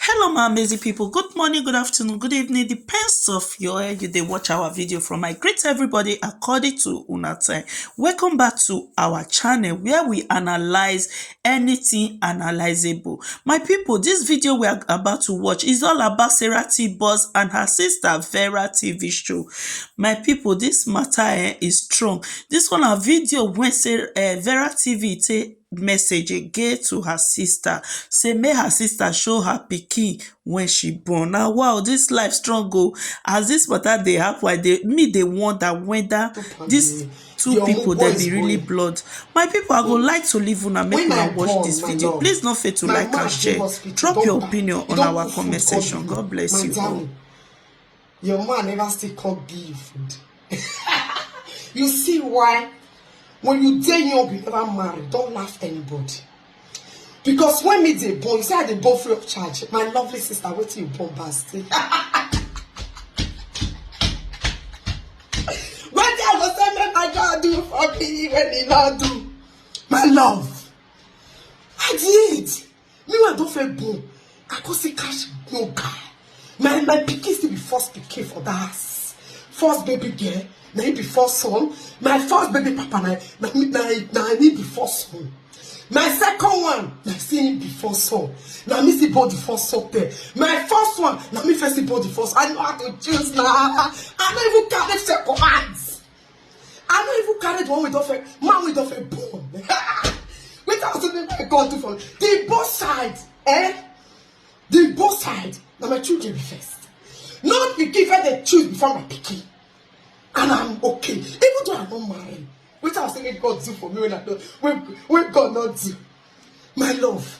Hello my amazing people, good morning, good afternoon, good evening, depends of your where you dey watch our video from. I greet everybody according to una time. Welcome back to our channel where we analyze anything analyzable. My people, this video we are about to watch is all about Sarah T. Boss and her sister Vera TV show. My people, this matter eh, is strong. This one na video wey say eh, Vera TV take message again to her sister sey make her sister show her pikin wey she born. Na wa o! Dis life strong o! As dis matter dey happen, I dey me dey wonder whether dis two pipu dem be really blood. My pipu, I go like to leave una make una watch dis video. Please no fail to like and share. Drop your opinion on our comment section. God bless you all. Your man never still come give. you see why? When you dey young, you never marry. Don't laugh anybody. Because when me dey born, you say I dey born free of charge. My lovely sister, wait till you born bastard. when they go say make my God do for me when he not do. My love, I did. me wey i don fair born i come see cash no guy my my pikin still be first pikin for that house first baby girl na him be first son my first baby papa na na na na me be first son my second one na still him be first son na me still born the first son there my first one na me first still born the first i know how to choose na i no even carry second hand I no even carry the one wey don fail, man wey don fail born. Wetin I still make God do for me? The both side, eh? The both side, na my children be first. No pikin first dey choose before my pikin. And I'm okay. Even though I no marry, wetin I still make God do for me when I don, when, when God no do? My love.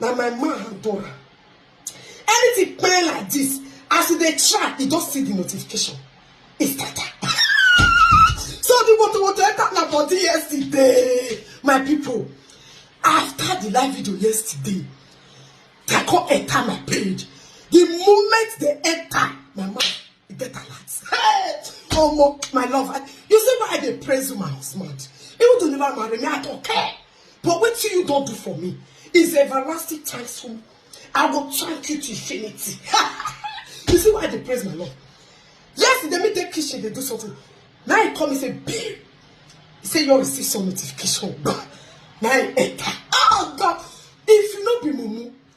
na my man handle am anything pay like this as e dey try e don see the notification e scatter so the water water enter na body yesterday my people after the live video yesterday they come enter my page the moment they enter my mind You get alert. Hey, oh my love. I, you see why I dey praise you, my husband. Even though you never marry me, I don't care. But what you don't do for me is everlasting thanks for me. I will thank you to infinity. you see why I dey praise my love. Yes, they meet the kitchen, they do something. Now he come and say, babe. He say, you receive some notification. Now he enter. Oh, God. If you not be mumu,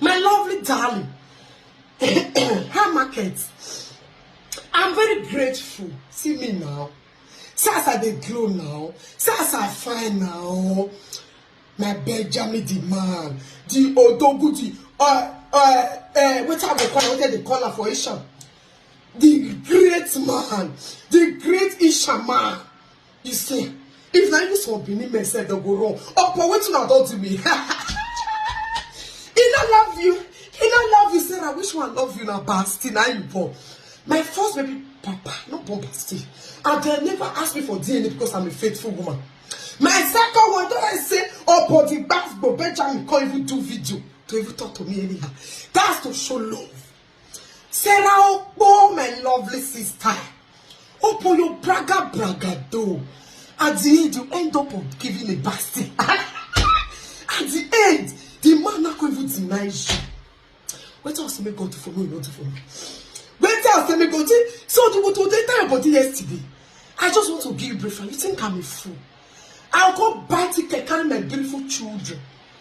My lovely darling, her market. I'm very grateful. See me now. See as I dey glow now. See as I fine now. My Benjamin the man, the Odogu, the uh, uh, uh, wetin I go call am, wetin I dey call am for Ishan. The great man, the great Ishan man. You see, if na even some Benin men sef dem go run. Opo wetin una don do me? He no love you. He no love you, Sarah. Which one love you na Basti na you born. My first baby papa no born Basti. And dem never ask me for DNA because I'm a faithful woman. My second one don I say Opo the Gbasgbo Benjamin come even do video to even talk to me anyhow. That's to show love. Sarah Okpo, my lovely sister, open your braga braga door. At the end, you end up of giving a bastard. At the end, the man not going to deny you. Wait till I say make God do for me, not do for me. Wait till I say make God do. So the what they tell your body yesterday. I just want to give you brief. You think I'm a fool? I'll go buy ticket, carry my beautiful children.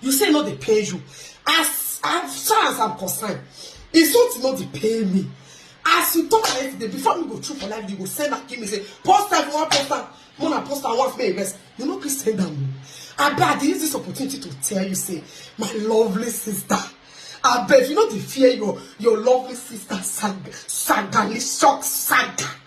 you say e no dey pain you as as far as i'm concerned e something no dey pain me as you talk like today before me go through for life you go send am give me say post am you wan post am more na post am once make e rest you no gree send am o abeg i dey use this opportunity to tell you say my lovely sister abeg you no dey fear your your lovely sister sag sagali shock saga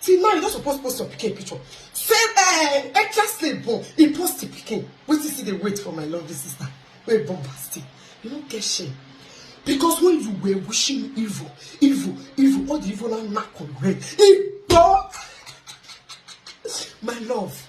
till now you no suppose post your pikin picture say eh, extra slave born he post the pikin wetin still dey wait for my lovely sister wey born pasty you no get shame because when you were wishing evil evil evil all the evil now knack on red igbo my love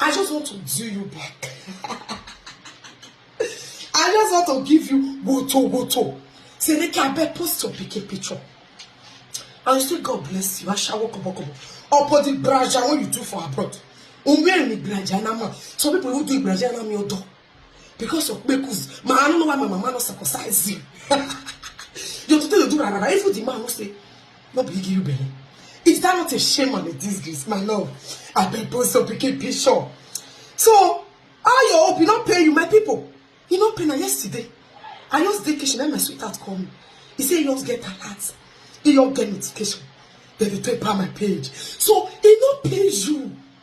I just want to do you back. I just want to give you woto woto. Say make I beg post your pikin picture. And you say God bless you. I shall walk up, walk up. Upon the braja what you do for abroad. Unwe ni braja na ma. Some people who do braja na mi odo. because of kpekus ma i no know why my mama no circumcise you your today dey do rarara even the man no say no be he give you belle is that not a shame and a disgrace my love abeg post your pikin picture so how your hope e no pay you my people e no pay na yesterday i just dey kitchen na my sweetheart call me he say he just get alert he just get notification dem dey take pa my page so e no pay you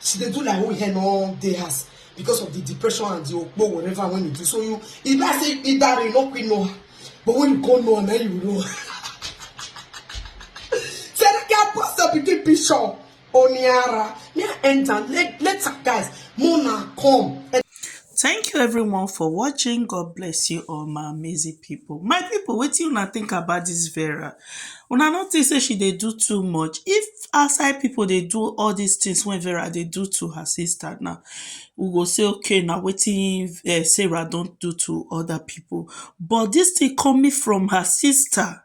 she dey do like who hair no dey house because of the depression and the okpo whatever when you do so you e be like say e dare you no quick know her but when you come know her na you know her say that girl post her pikin picture oniara me i enter let let her guys mona come. Thank you everyone for watching God bless you all my amazing people. My people wetin una think about this Vera? Una no think say she dey do too much? If outside people dey do all these things wey Vera dey do to her sister now, we go say okay na wetin Sarah don do to other people but this thing coming from her sister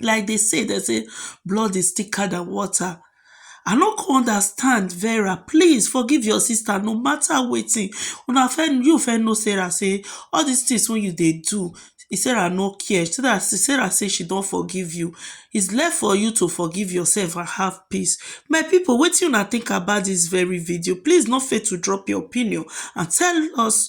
like dey say dem say blood is thicker than water I no come understand Vera please forgive your sister no matter wetin una fe you fe know Sarah say all this things wey you dey do Sarah no care Sarah Sarah say she don forgive you is left for you to forgive yourself and have peace my people wetin una think about this very video please no fail to drop your opinion and tell us